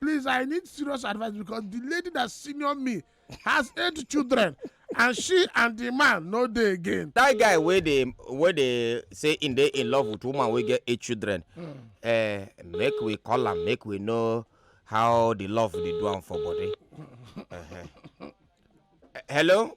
Please, I need serious advice because the lady that senior me has eight children and she and the man no dey again. that guy wey dey wey dey say im dey in love with woman wey get eight children mm. uh, make we call am make we know how the love dey do am for body. Uh -huh. uh, hello.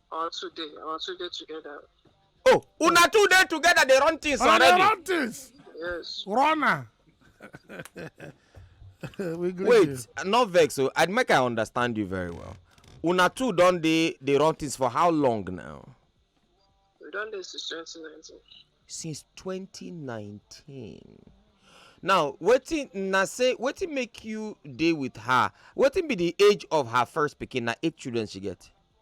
Or two day, or two day together. Oh, una two day together they run things Una dey already. run things. Yes. Runner. we greet Wait, you. not vex o. I make I understand you very well. Una two don dey dey run things for how long now? We done this since 2019. Since 2019. Now, wetin na say wetin make you dey with her? Wetin be the age of her first pikin? Na eight children she get.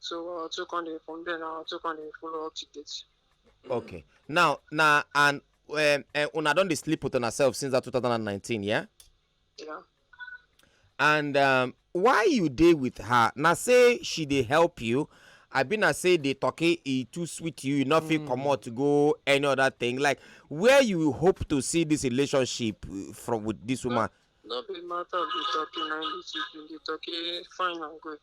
so our two come dey from there na our two come dey follow up to date. okay now na and um, uh, una don dey sleep with una sef since that 2019 yeah. yeah. and um, why you dey with her na say she dey help you i bin na say the turkey e too sweet you you no fit mm. comot go any other thing like where you hope to see this relationship uh, from with this woman. no be matter of the turkey na the turkey fine and good.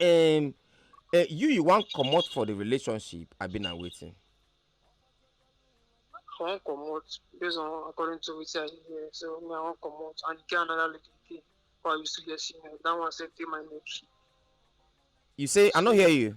um eh you you wan comot for the relationship abi na wetin. I wan comot based on according to wetin I dey hear so me I wan comot and e get another lady again wey I used to get female that one sef dey my neck. you say i no hear you.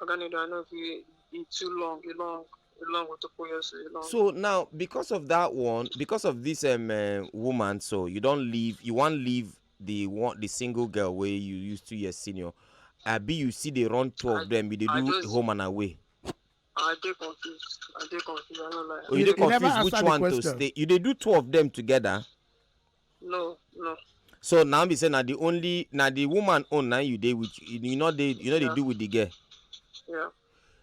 Oga Nido, I know if you eat too long, you long, you long with the poyos, you long. So now, because of that one, because of this um, uh, woman, so you don't leave, you want leave the one, the single girl where you used to your senior. I be you see they run two of them, they do just, home and away. I dey confused. I dey confused. I don't like. Oh, you, you dey confused which one question. to stay. You they do two of them together. no no so now be say na the only na the woman own na you dey with you no dey you no dey do with the girl yeah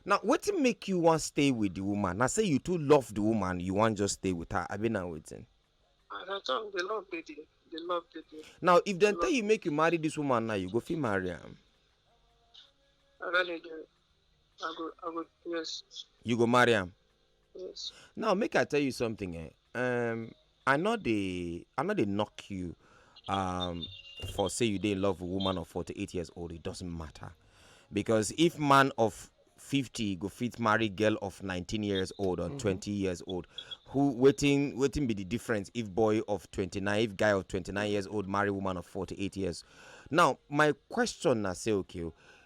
now wetin make you wan stay with the woman na say you too love the woman you wan just stay with her abi na wetin as i talk the love dey there the love dey there now if dem tell you make you marry this woman now you go fit marry am I go, I go, yes. You go marry him. Yes. Now make I tell you something. Eh? Um, I know they, I know they knock you. Um, for say you didn't love a woman of 48 years old, it doesn't matter. Because if man of 50 go fit marry girl of 19 years old or mm -hmm. 20 years old, who waiting waiting be the difference if boy of 29, if guy of 29 years old marry woman of 48 years. Now, my question I say, okay,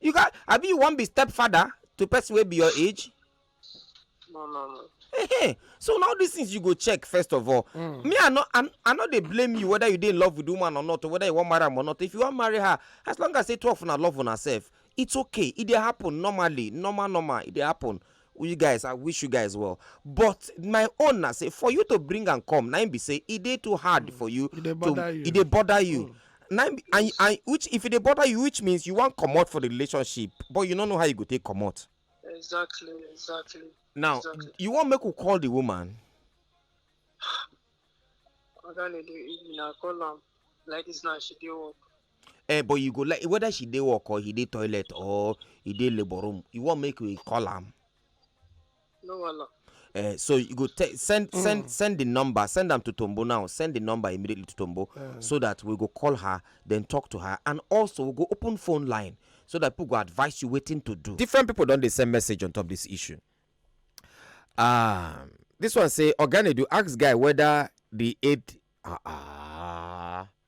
You got abi you wan be stepfather to person wey be your age? No, no, no. Hey, hey. So now these things you go check first of all. Mm. Me, I not, I'm, I not they blame you whether you did in love with woman or not, or whether you want marry her or not. If you want marry her, as long as they talk for love on herself, it's okay. It they happen normally, normal, normal. It they happen. you guys i wish you guys well but my own na say for you to bring am come na im be say e dey too hard for you e dey bother you e dey bother you mm. na and and which if e dey bother you which means you wan comot for the relationship but you no know how you go take comot. exactly exactly. now exactly. you wan make we call the woman. oga lady na call am like this now she dey work. Eh, but you go like whether she dey work or he dey toilet or he dey labour room, you wan make we call am? No wahala. Uh, so you go te- send mm. send send the number send them to tombo now send the number immediately to tombo uh. so that we go call her then talk to her and also we go open phone line so that people go advise you waiting to do different people don't they send message on top this issue um this one say organic do ask guy whether the aid uh, uh,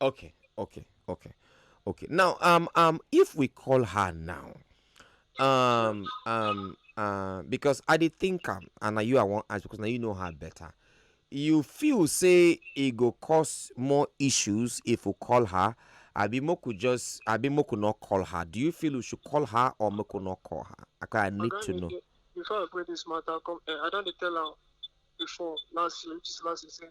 Okay, okay, okay, okay. Now, um, um, if we call her now, um, um, uh, because I did think um, and now you I want ask because now you know her better. You feel say it go cause more issues if we call her. Abimo could just Abimo could not call her. Do you feel we should call her or we could not call her? Okay, I need to know. Before I bring this matter, come, eh, I don't tell her before last year, which is last year,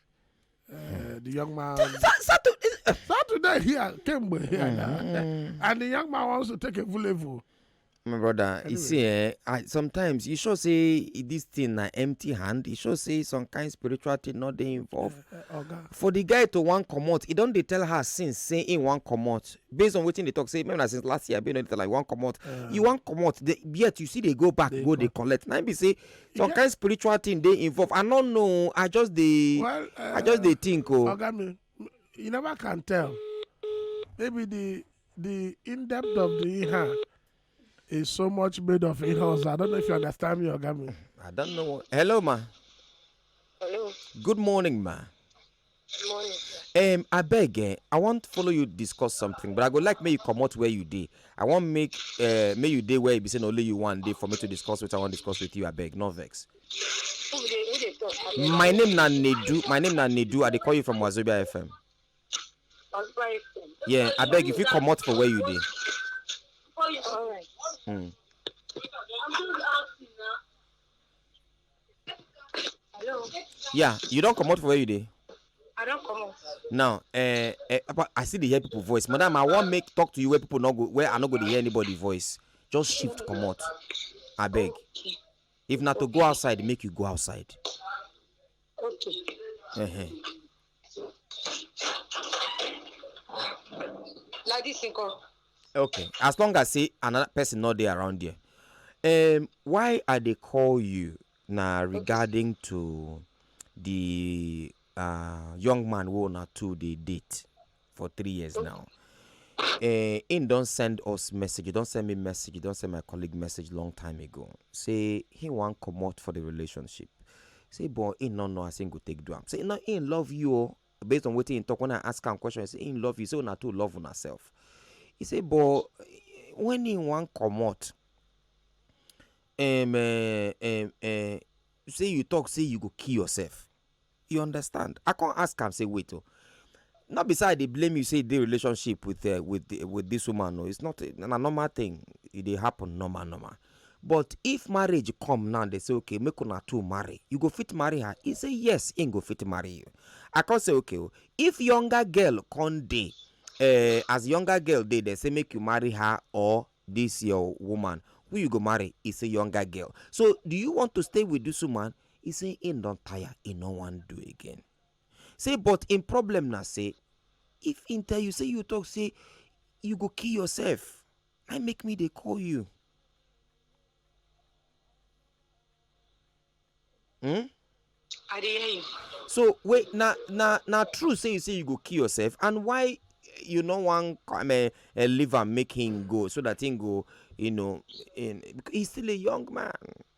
Uh, the young man. Saturday. Saturday here, came with here. Mm. And the young man wants to take a level. My brother, anyway. you see, eh, I, sometimes you should say this thing na empty hand. You should say some kind of spiritual thing not dey involved. Uh, uh, okay. For the guy to wan comot, e don dey tell her since say he wan comot. Based on wetin dey talk, say maybe na since last year, be no dey tell her he wan comot. Uh, you wan comot, yet you see dey go back, they go dey collect. Na be say some kind spiritual thing dey involved i no know i just dey well, uh, i just dey uh, think o. Oh. oga mi you never can tell maybe the the in depth of the ihe is so much made of ihe ọzọ i don't know if you understand me oga mi. i don't know hello ma. hello. good morning ma. morning sir. um abeg eh i wan follow you discuss something but i go like make you comot where you dey i wan make uh, make you dey where e be say na only you wan dey for me to discuss wetin i wan discuss with you abeg no vex. who dey who dey talk. my name na nedu my name na nedu i dey call you from wazobia fm. Ozuba FM. yeah abeg you fit comot for where you dey. All right. Mm. I'm just asking now. Hello. Yeah, you don't come out for where you dey. I don't come out. Now, eh, eh, apa- I see the hear people voice. Madam, I want make talk to you where people not go where I not go to hear anybody voice. Just shift come out. I beg. Okay. If not to go outside, make you go outside. Okay. Uh-huh. like this nkan. okay as long as say another person no dey around there um, why i dey call you na regarding to the uh, young man wey una two dey date. for three years now. Uh, him don send us message, he don send me message, he don send my colleague message long time ago. Say he wan comot for the relationship. Say but he no know as he go take do am. Say no, he love you o. Oh. Based on wetin he talk when I ask am question, he say he love you. Say una too love una self. He say but when he wan comot, um, uh, um, uh, say you talk say you go kill yourself You understand? I come ask am say wait o. Oh, not be say I dey blame you say the relationship with uh, with the, with this woman o. It's not a, na normal thing. It dey happen normal normal. But if marriage come now, they say okay, make una two marry. You go fit marry her. He say yes, he go fit marry you. I come say okay o. Oh, if younger girl come dey uh, as younger girl dey they say make you marry her or this your woman who you go marry is a younger girl so do you want to stay with this woman E say im don tire, e no wan do again. Say but im problem na say if im tell you say you talk say you go kill yourself, na make me dey call you. Hmm? I dey hear you. So wait, na na na true say you say you go kill yourself and why you no wan come uh, uh, leave am make him go so that him go you know in, he's still a young man.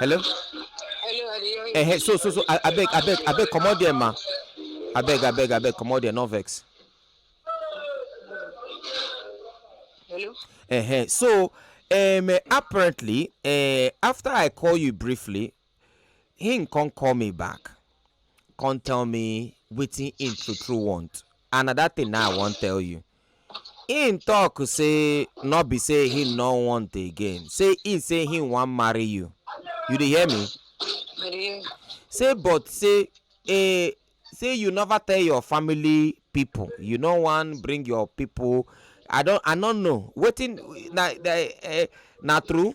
hello Hello, I dey hear you. eh so so so a- abeg abeg abeg comot there ma abeg abeg abeg comot there no vex Hello. eh so um, eh, apparently eh, after i call you briefly him come call me back come tell me wetin him true true want and na that thing na i wan tell you Him talk say no be say him no want again, say him say him wan marry you. You dey hear me? I dey hear. Say but say eh, say you never tell your family people. You no wan bring your people. I don I no know wetin na na eh, na true.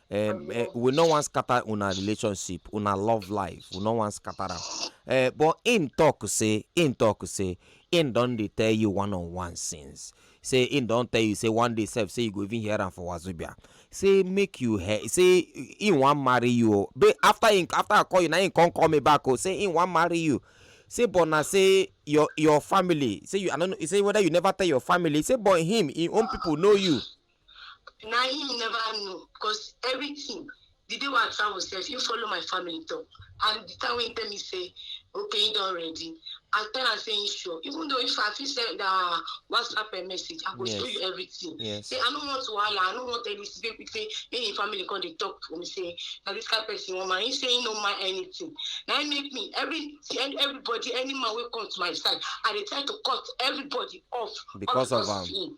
um, uh, we no wan scatter una relationship una love life we no wan scatter am uh, but im talk say im talk say im don dey tell you one on one since say im don tell you say one day sef say you go even hear am for wazobia say make you hear say im wan marry you o but after im after i call you na im come call me back o say im wan marry you say but na say your your family say you i no know say whether you never tell your family say but him him own people know you. na him never know because everything the day wey i travel sef he follow my family talk and the time wey he tell me say okay he don ready i tell am say he sure even though if i fit send uh, whatsapp a message i go yes. show you everything yes. say i no want wahala i no want any say quick say make him family come dey talk for me say na this kind person wan mind he say he no mind anything na him make me every everybody any man wey come to my side i dey try to cut everybody off because, because of am. Um,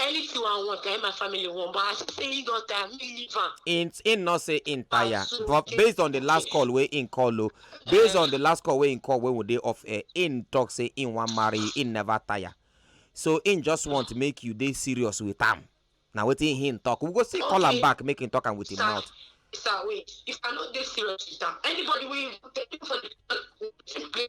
anything i want na him my family want but as he say he don tire me leave am him him not say him tire Ah, so but okay. based on the last call wey him call o based on the last call wey him call when we dey off air him talk say him wan marry you, him never tire so him just want make you dey serious with am na wetin him talk we go still call am Okay. back make him talk am with him sir mouth sir wait if i no dey serious with am anybody wey even tell me for the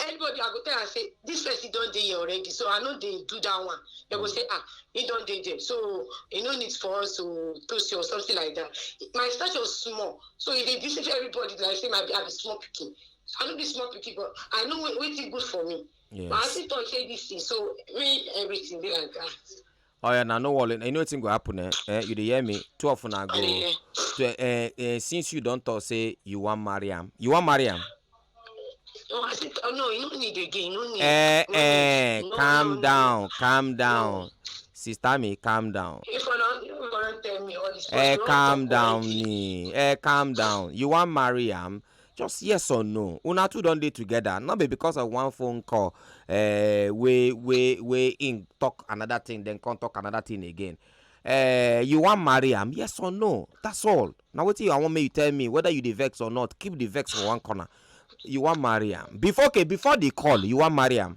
anybody i go tell am say this person don dey here already so i no dey do that one they go say ah he don dey there so e no need for us to toast you or something like that my stature small so e dey deceive everybody like say my i be small pikin i no be small pikin but i know wetin good for me yes. but i still talk say this thing so me everything be like that. Oh yeah, now no worry. You know what go happen? Eh? eh? You dey hear me? Twelve na go. To, eh, eh, eh, since you don talk, say you wan marry am. You wan marry am? No, I said, oh, no, you no need again. No need. Eh, no eh, need. No, calm no, no, down, calm down. Sister me, calm down. If I don't, you gonna tell me all this. Eh, calm down, ni. Eh, calm down. You wan marry am? just yes or no una two don dey together no be because of one phone call uh, wey wey wey im talk another thing then come talk another thing again uh, you wan marry am yes or no that's all na wetin i wan make you tell me whether you dey vex or not keep the vex for one corner you wan marry am before okay before the call you wan marry am.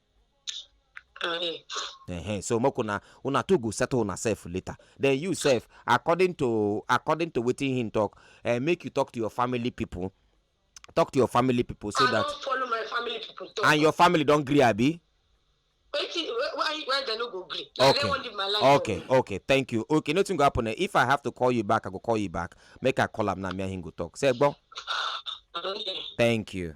Uh-huh. so make una una two go settle una self later then you self according to according to wetin him talk uh, make you talk to your family people talk to your family people so I that follow my family people talk. and your family don gree abi. wetin why why dem no go gree na okay. dem wan live my life. okay o. okay thank you okay nothing go happen eh if i have to call you back i go call you back make i call am now me and him go talk say gbon. thank you.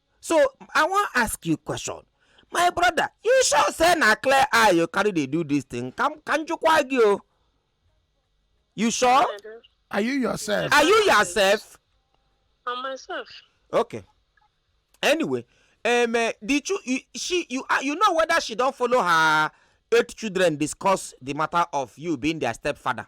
So I wan ask you question. My brother, you sure say na clear eye you carry dey do this thing? Kam kanjukwagi o. You sure? Are you yourself? Are you yourself? I'm myself. Okay. Anyway, um, uh, did you, you she you uh, you know whether she don follow her eight children discuss the matter of you being their stepfather?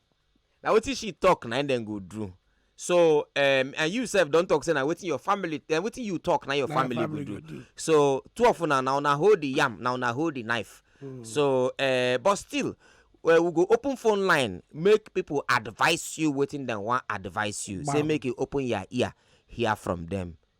Na wetin she talk na im dem go do. So um and you sef don talk say na wetin your family um wetin you talk na your Na your family go family do. go do. So two of una na una hold the yam na una hold the knife. So um but still we we go open phone line make people advice you wetin dem wan advice you say Gbam. make you open your ear hear from them.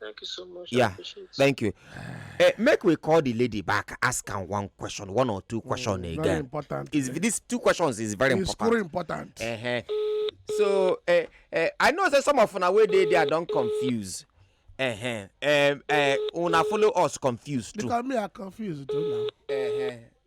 Thank you so much. Yeah, thank you. Uh, make we call the lady back, ask her one question, one or two mm, question mm, again. Very important. Is yeah. these two questions is very it's important. It's important. Uh -huh. So uh, uh, I know that some of una wey dey there don confuse. Uh -huh. um, uh, una follow us confused too. Because me I confused too now. Uh -huh.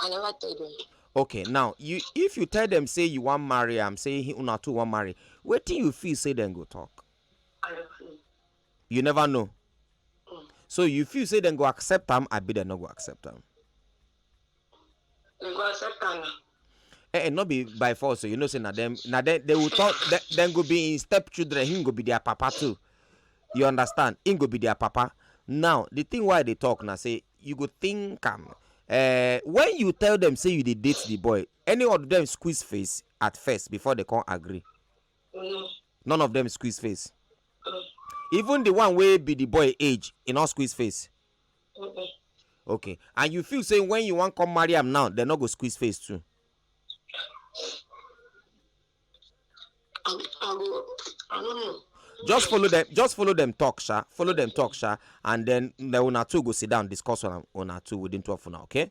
I never tell them. okay now you if you tell them say you wan marry am say he una too wan marry wetin you feel say dem go talk I don't know. you never know Mm. so you feel say dem go accept am abi dem no go accept am They go accept am now. eh, eh not be by force so you know say na them na them they will talk they, then go be in step children him go be their papa too you understand him go be their papa now the thing why they talk now say you go think am um, uh, when you tell them say you dey date the boy any of them squeeze face at first before they come agree mm. none of them squeeze face mm. even the one wey be the boy age e no squeeze face Mm-mm. okay and you feel say when you wan come marry am now dem no go squeeze face too. I, I, go, I don't know. just follow them just follow them talk sha follow them talk sha and then the una two go sit down discuss una una two within twelve una okay.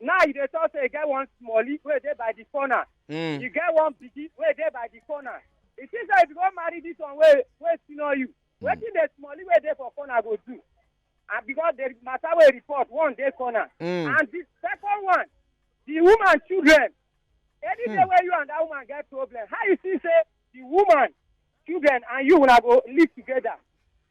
Now you dey talk say you get one smallie wey dey by the corner. Mm. You get one biggie wey dey by the corner. E seems like if you go marry this one wey wey senior you, mm. wetin the smallie wey dey for corner go do? And because the matter wey report one dey corner. Mm. And the second one, the woman children. Any mm. day wey you and that woman get problem, how you see say the woman children and you una go live together?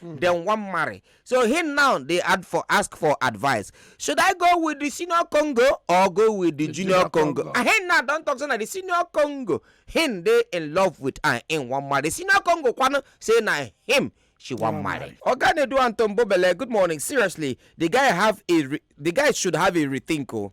hmm. dem wan marry so him now dey add for ask for advice should i go with the senior congo or go with the junior congo and him now don talk say na the senior congo him dey in love with and him wan marry senior congo kwano say na him she wan oh marry. oga nedu antombobele good morning seriously the guy have a the guy should have a rethink o. Oh.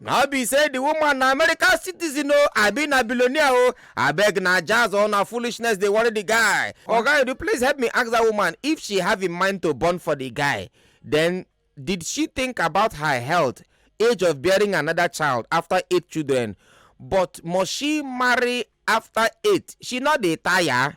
na be say the woman na american citizen o abi na billionaire o abeg na jazz or na foolishness dey worry the guy oga edu please help me ask that woman if she have in mind to born for the guy then did she think about her health age of bearing another child after eight children but must she marry after eight she no dey tire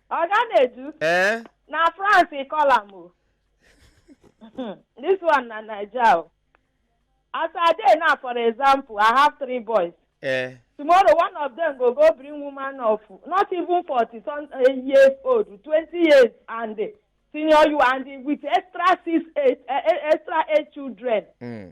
Oga Nedu, Eh? na France he call am o. This one na Naija o. As I dey now, for example, I have three boys. Eh? Tomorrow, one of them go go bring woman of not even forty some uh, years old, twenty years and uh, senior you and uh, with extra six eight uh, extra eight children. Mm.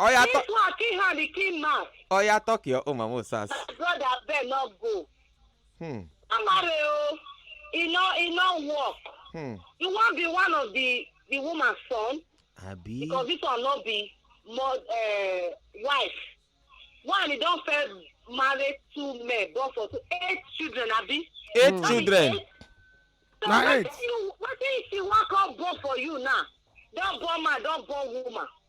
Oya This talk one kill hand, he kill man. Oya talk your own mama osas. My brother abeg no go. Hmm. Amare o, e no e no work. Hmm. You wan be one of the the woman son Abi. because this one no be more uh, wife. One e don first marry two men born for two eight children abi. Eight Hmm. children. So Na wetin eight. you wetin she wan come born for you now? Don born man, don born woman.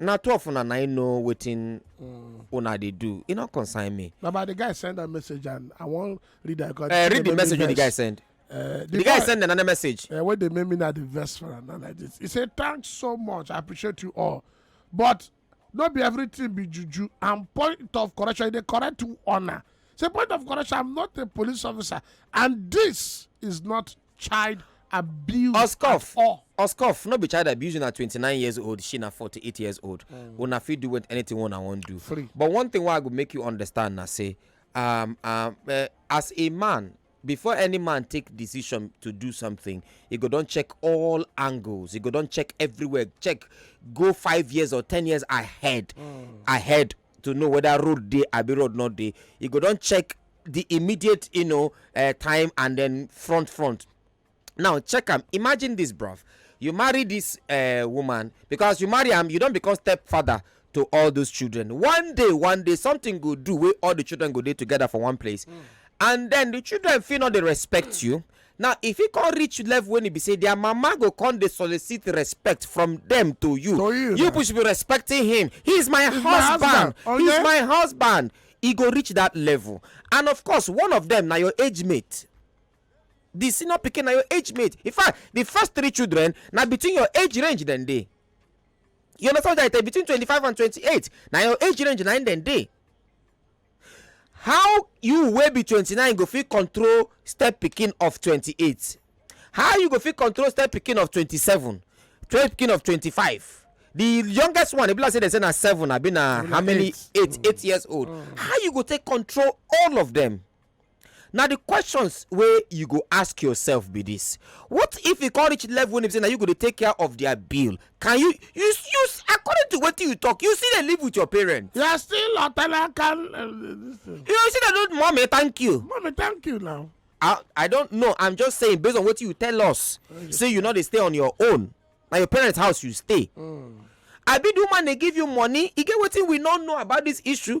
na two of una na im know wetin mm. una dey do e no concern me na but the guy send am message and i wan read am because eh, read the message wey the guy send eh, the guy send another message eh, wey dey make me na the verse for am na like this he say thanks so much i appreciate you all but no be everything be juju and point of correction e dey correct honor say point of correction i'm not a police officer and this is not child abuse Oscoff. at all. Oscoff, no be child abuse, na 29 years old, she na 48 years old. Mm. Una fit do with anything one I want do. Free. But one thing why I go make you understand na say, um, um, uh, as a man, before any man take decision to do something he go don check all angles he go don check everywhere check go five years or ten years ahead mm. ahead to know whether road dey abi road no dey e go don check the immediate you know uh, time and then front front now check am imagine this bruv you marry this uh, woman because you marry am you don become stepfather to all those children one day one day something go do wey all the children go dey together for one place mm. and then the children fit no dey respect you Now e fit come reach level wen e be say their mama go come dey solicit respect from dem to you. To you You na. people should be respecting him. He is my He's my husband. husband, He is okay? my husband. E go reach that level. And of course, one of them na your age mate. The senior pikin na your age mate. In fact, the first three children na between your age range dem dey. You understand what I tell you? Between twenty-five and twenty-eight na your age range na im dem dey. How you wey be twenty nine go fit control step pikin of twenty eight? How you go fit control step pikin of twenty seven? Step pikin of twenty five? The youngest one e be like say dem say na seven abi na how many eight eight years old. How you go take control all of them? na the questions wey you go ask yourself be this what if e come reach level wey be say na you go dey take care of their bill can you you you according to wetin you talk you still dey live with your parents You are still a tenant can. Uh, this thing. you still dey do mommy thank you Mommy, thank you now. I, I don't know. I'm just saying based on what you tell us. Say you know they stay on your own. Now your parents' house you stay. I be the woman they give you money. You get what we don't know about this issue.